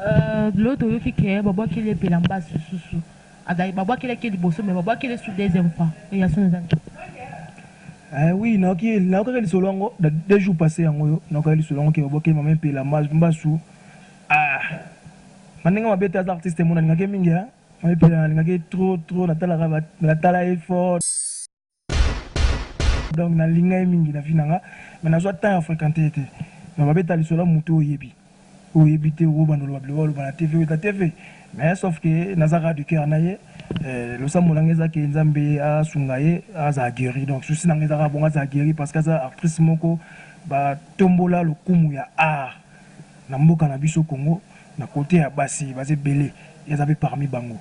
Euh Gloire toyoki que ba bwakeli ye bilamba sususu azali ba bwakelaki ye liboso mais ba bwakeli ye su deuxième fois et ya son eza nini? Eh oui nayoki ye nayokaki lisolo yango da deux jours passe yango oyo nayokaki lisolo yango ke ba bwakeli mama mpe elamba mbasu ah na ndenge mabe te aza artiste mona alingaki ye mingi hein mama mpe alingaki ye trop trop natalaka ba natala ye fort Donc na linga ye mingi na vie na nga mais na zwa temps ya frequenter ye te mais ba beta lisolo ya mutu oyo oyebi oyo oyebi te obo banda oloba biloko ba loba na TV ou ta TV mais sauf que na zaka de cœur na ye eh, losambo na nga eza ke nzambe a sunga ye a za gueri donc souci na nga eza ka bongo a za gueri parce que aza actrice moko ba tombola lokumu ya art na mboka na biso Congo na kote ya basi baza ebele eza pe parmi bango.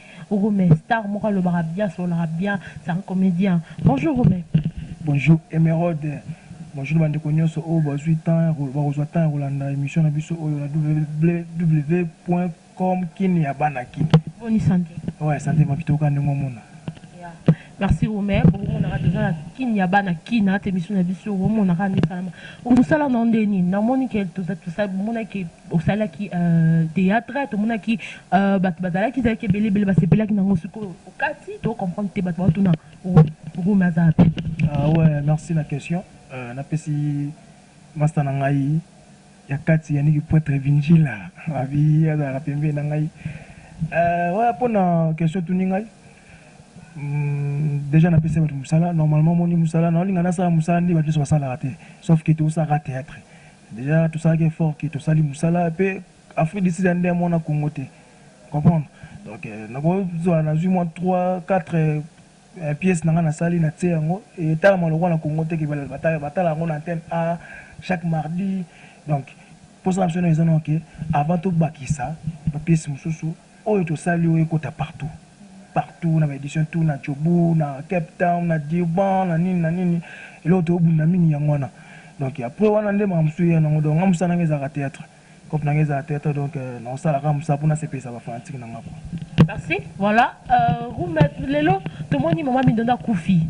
Hugo mais star moko alobaka bien asololaka bien c'est un comédien bonjour Hugo mais bonjour Emeraude bonjour bandeko nyonso oyo bazwi temps bakozwa temps ya kolanda émission na biso oyo na www.com kin ya bana kin boni santé oyo santé makitoka ndenge omona merci Romain bokomonaka toza na kin ya bana kin ata émission na biso bokomonaka nde esalama mosala na yo nde nini namoni ke toza tosala bomonaki Osalaki theatre tomonaki batu bazalaki ezalaki ebele ebele basepelaki na yango sikoyo okati to comprendre te batu baotuna Romy aza wapi? Ah ouais merci na question euh, napesi masta na ngai ya kati yaniki poitre vinjila abi azalaka pembeni na ngai euh, ouais mpo na question tuni ngai mm, déjà napesi bato mosala normalement moni mosala naolinga nasala mosala nde bato nyonso basalaka te sauf ke tosalaka théâtre Dejà tosalaki effort que tosali musala pe Afrique du Sud ya nde amona Congo te comprendre donc nakozwa nazwi mwa 3 4 pièces na nga nasali na tie yango etalama lokola na Congo te ke batala yango na antenne A chaque mardi donc posa na biso eza nao ke avant tobakisa ba pièces mosusu Oyo tosali oyo ekota partout partout na ba edition tout na Jobourg na cape town na Durban na nini na nini eloko tozo bunda mingi yango wana donc après wana nde makambo mosusu eya nango donc nga mosala nanga ezalaka theatre coop nanga ezalaka theatre donc nao sala kaka mosala pona sepelisa ba fanatique nanga quoi. Merci. Voilà. Euh, Rumba Lelo, tout le monde dit Maman Mindonda Koufi.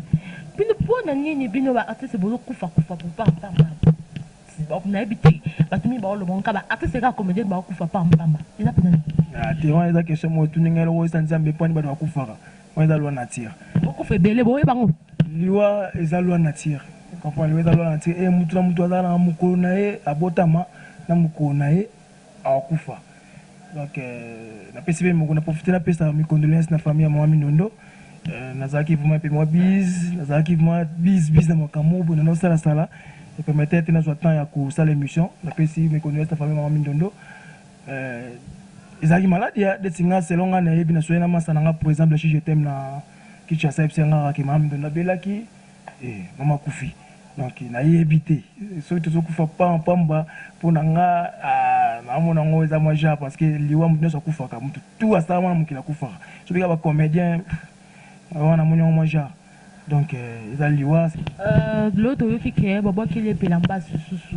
Puis le point, on a ni bino, artiste, bozo Koufa, Koufa, Koufa, Koufa. Donc nayebi te batu mingi baoloba ngo kaka ba artistes kaka comedienne baokufa par mbamba eza penza nini? Ah te wana eza question moko otuni ngai eloko eza nzambe pwani batu bakufaka wana eza loi nature Bokufa ebele boyeba ngo? liwa eza loi nature comprendre liwa eza loi nature e mutu na mutu azalaka na mokolo na ye abotama na mokolo na ye akufa donc na pesi pe moko na profiter na pesa mi condoleances na famille ya maman mindondo na zalaki vraiment pe moi biz na zalaki vraiment biz biz na makambo bo na no sala sala et permettre te na zwa temps ya ko sala émission na pesi mi condoleances na famille maman mindondo euh ezalaki malade ya de singa selon nga na yebi na soyena masa na nga pour exemple si je t'aime na kicha sa epsi nga ke maman mindondo abelaki Eh mama akufi donc nayebi te soki tozokufa pa pamba mpo na nga ah, naamona yango eza mwa genre parce que liwa moto nyonso akufaka moto tu asala mwana mokili akufaka so bika bacomédien wana namoni yango mwa genre donc eh, eza liwa Euh, Glow toyoki ke babwakeli epela mbasu susu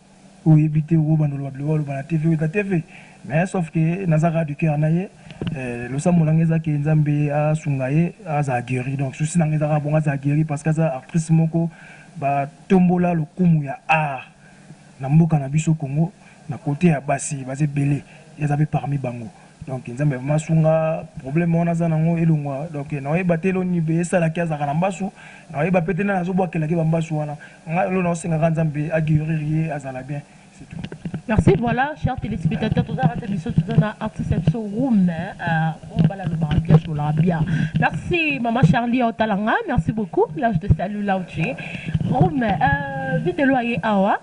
Oyo oyebi te oko banda oloba biloko aloba na TV weta TV mais sauf que naza kaka du cœur naye losambo nanga eza que nzambe asunga ye azala gueri donc soucis nanga eza kaka bongo azala gueri parce que aza artrice moko ba tombola lokumu ya art na mboka na biso Congo na cote ya basi baza ebele ye aza pe parmi bango. Donc nzambe vraiment asunga problème wana aza nango elongwa donc naoyeba te eloni mpe esalaki azalaka na mbasu naoyeba mpe te nani azobwakelaki bambasu wana ngai elo naosengaka nzambe aguerir ye azala bien c'est tout Merci, voilà, chers téléspectateurs, tout ça, biso, tout ça, artiste, biso, room, on va la bien, sur la bien. Merci, maman Charlie, au talanga, merci beaucoup, là, je te salue, là où tu es. Room, euh, vite, loyer, awa,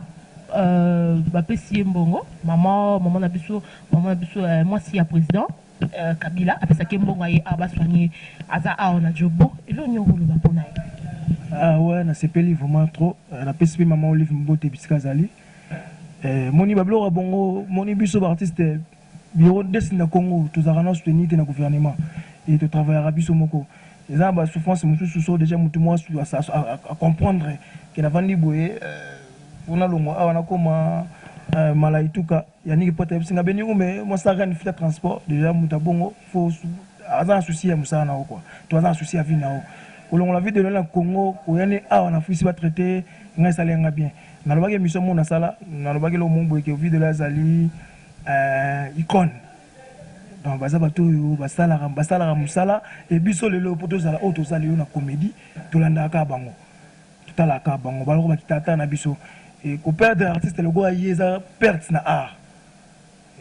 euh, bah, pessier, mbongo, maman, maman, na biso, Maman biso eh, mwasi ya president eh, Kabila apesaki mbongo aye awa baswanye aza awa na jobo elo nyo koloba mpo na ye Ah ouais, nasepeli vraiment trop. Euh, Napesi mpe maman Olive Mbote bisika azali. Euh, moni babiloko ya bongo, moni biso ba artistes bureau des na Congo, tozalaka na soutenir te na gouvernement et to travaillaka biso moko. Eza na ba souffrance mosusu so déjà motu mwa su a, a, a, a comprendre que navandi boye euh, mpona longwa awa nakoma euh, malaituka Yannick poto ayebisi nga beni ume mwa saka ni fita transport deja moto ya bongo fo aza na souci ya mosala na yo kua to aza na souci ya vie na yo kolongola vie de loin na congo koya ne awa na afrisi batraite ngai esali yanga bien nalobaki emission moko nasala nalobaki eloko moko boye ke vie de loin azali uh, icone donc baza bato oyo basalaka basalaka mosala e biso lelo mpo tozala oyo tozali yo na comédie tolandaka kaka bango totalaka bango baloko ba kitata na biso et ko perdre artiste lokola ye eza perte na art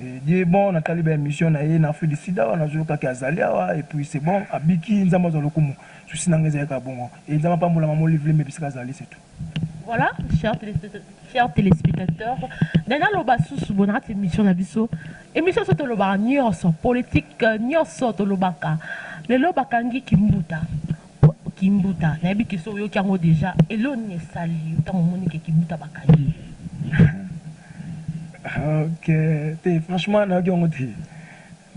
et Dieu est bon natali ba emission na ye na Afrique du Sud awa nazo yoka ke azali awa et puis c'est bon abiki Nzambe azwa lokumu souci na nga ezali kaka bongo et Nzambe apambola maman Olive Lembe bisika azali c'est tout. Voilà, chers téléspectateurs, chers téléspectateurs nde naloba susu boye na kati ya émission na biso émission so tolobaka nyonso politique nyonso tolobaka lelo bakangi kimbuta Kimbuta nayebi que soki oyoki yango dejà eloko nini esali yo tango omoni que kimbuta bakangi ye? Ok te franchement nayoki yango te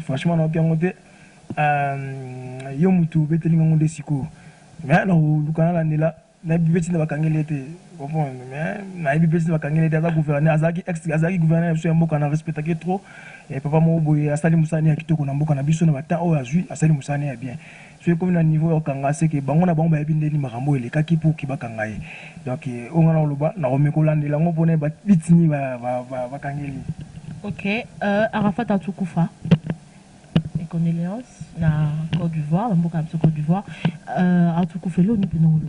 franchement nayoki yango te euh, yo mutu obeteli ngango nde sikoyo me nakoluka nalandela nayebi mpe ntina bakangeli ete comprendre me nayebi mpe ntina bakangeli ete aza gouverneur azalaki ex azalaki gouverneur ya biso ya mboka na respectaki trop e papa moko boye asali mosala ne ya kitoko na mboka na biso na batemp oyo azwi asali mosala ne ya bien Soki ekomi na niveau ya kokanga ce que bango na bango bayebi ndeni makambo oyo elekaki pour que bakanga ye donc oyo nga nao loba nako meka kolandela yango po nayeba bit nini ba kangeli ye. Ok euh Arafat azo kufa et condoleances na Cote d'Ivoire na mboka na biso Cote d'Ivoire euh azo kufa elo ni pena oloba.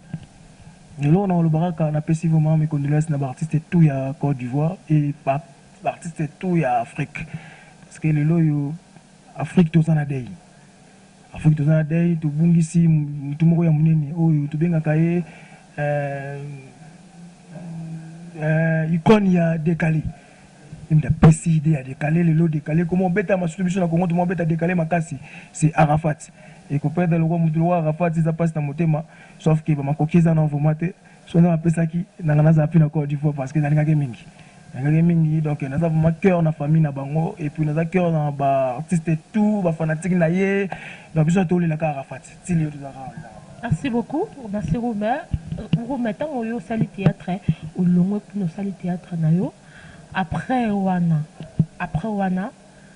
Eloko nao loba kaka na pesi vraiment mes condoleances na ba artistes tout ya Cote d'Ivoire et ba artistes tout ya Afrique parce que lelo oyo Afrique toza na deuil. Afrique toza na deuil tobungisi mutu moko ya munene oyo tobengaka ye eeh icone ya decale ye mutu apesi idee ya decale lelo decale ekoma obetama surtout biso na Congo toma obeta decale makasi c'est Arafat et ko perdre lokwa mutu lokwa Arafat eza pasi na motema sauf que ba makoki eza na yo vraiment te. Soki nga napesaki nanga naza mpe na Cote d'Ivoire parce que nalingaki mingi nalingaki mingi donc naza vraiment cœur na famille na bango et puis naza cœur na ba artistes tout ba fanatiques na ye donc biso tolela kaka Arafat ti lelo toza kaka lela Merci beaucoup. Merci Romain. Euh, Romain, tant que yo sali théâtre, au long que nous sali théâtre na yo. Après wana, après wana,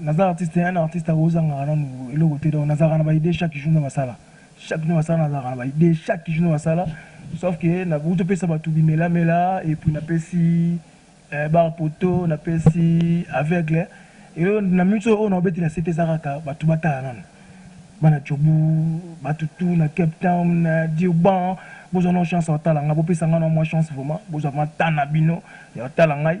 Naza artiste te un artiste ako zangaka nanu eloko te donc nazalaka na ba idee chaque jour na basala chaque na basala nazalaka na ba idee chaque jour na basala sauf que na bout to pesa batu bimela mela et puis na pesi eh, bar poto na pesi aveugle et na minutes oyo na obetela sete eza kaka batu batala nanu bana chobu batu tout na Cape Town na Durban bozwa na chance otala nga bopesa nga na mwa chance vraiment bozwa ma tana bino ya otala ngai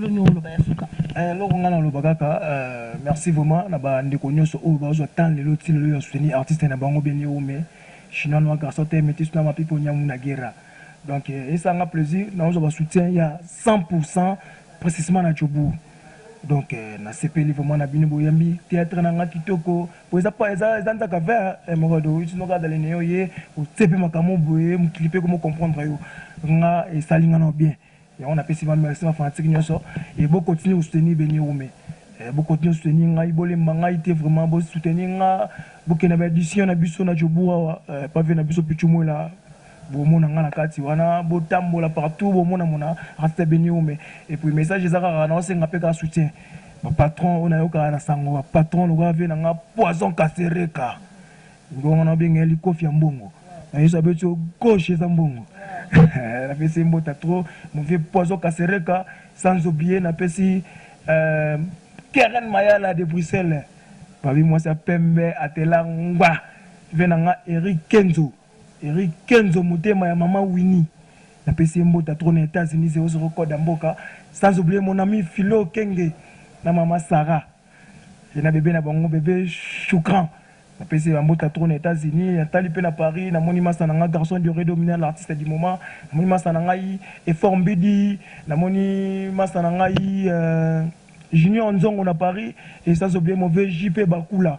Yo nde oloba ya suka. Eh eloko nga naloba kaka merci vraiment na ba ndeko nioso oyo bazua temps lelo ti lelo ya soutenir artiste na bango beni hume, chinois noir garçon te metis noir ma people nyamu na guerra donc esala nga plaisir nazua ba soutien ya 100 pour 100 precisement na jobourg donc na sepeli vraiment na bino boyambi theatre na nga kitoko po eza pa eza eza nzaka vert eh moko do iti noka dale ne yo ye otse pe makambo boye mokili pe komo comprendre yo nga esali nga nao bien Yango na pesi ba merci ba fanatique nioso et bo continue ko soutenir Beniwume eh bo continue ko soutenir ngai bo lemba ngai te vraiment bo soutenir nga bo kende na ba edition na biso na Jobourg awa eh pa vieux na biso Pitshou Mwela bo mona nga na kati wana bo tambola partout bo mona mona Rasta Beniwume et puis message eza kaka nao senga pe kaka soutien ba patron oyo na yokaka na sango ba patron lokola vieux na nga Poison Kasereka Mbongo wana obenga ye likofi ya mbongo na yesu abeti yo gauche eza mbongo napesi ye mbota trop mon vieux poison kasereka sans oublier napesi euh, keren mayala de bruxelles babi mwasi ya pembe atela ngba ve na nga eric kenzo eric kenzo motema ya mama wini napesi ye mbota trop na etats-unis 00 code ya mboka sans oublier mon ami philo kenge na mama sarah Ye na bebe na bango bebe Shukran napesi ye ba mbote ya trop na Etats Unis natali pe na Paris namoni masta na nga garçon du Redo Mina l'artiste du moment namoni masta na ngai Efforts Mbidi namoni masta na ngai Junior Nzongo na Paris et sans oublier mon vieux JP Bakula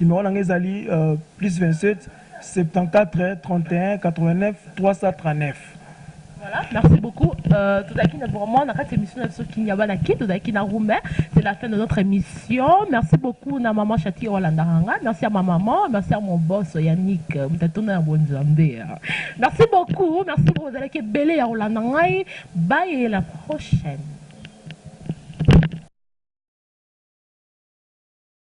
Numero na nga ezali plus 27 74 31 89 339. Voilà, merci beaucoup. Euh, tozalaki na vraiment na kati émission na biso Kinyaba na kin tozalaki na Roumain. C'est la fin de notre émission. Merci beaucoup na maman Chati olandaka nga. Merci à ma maman, merci à mon boss Yannick Mutatona ya Bonzambe. Merci beaucoup. Merci beaucoup ozalaki ebele ya kolanda ngai. Bye et la prochaine.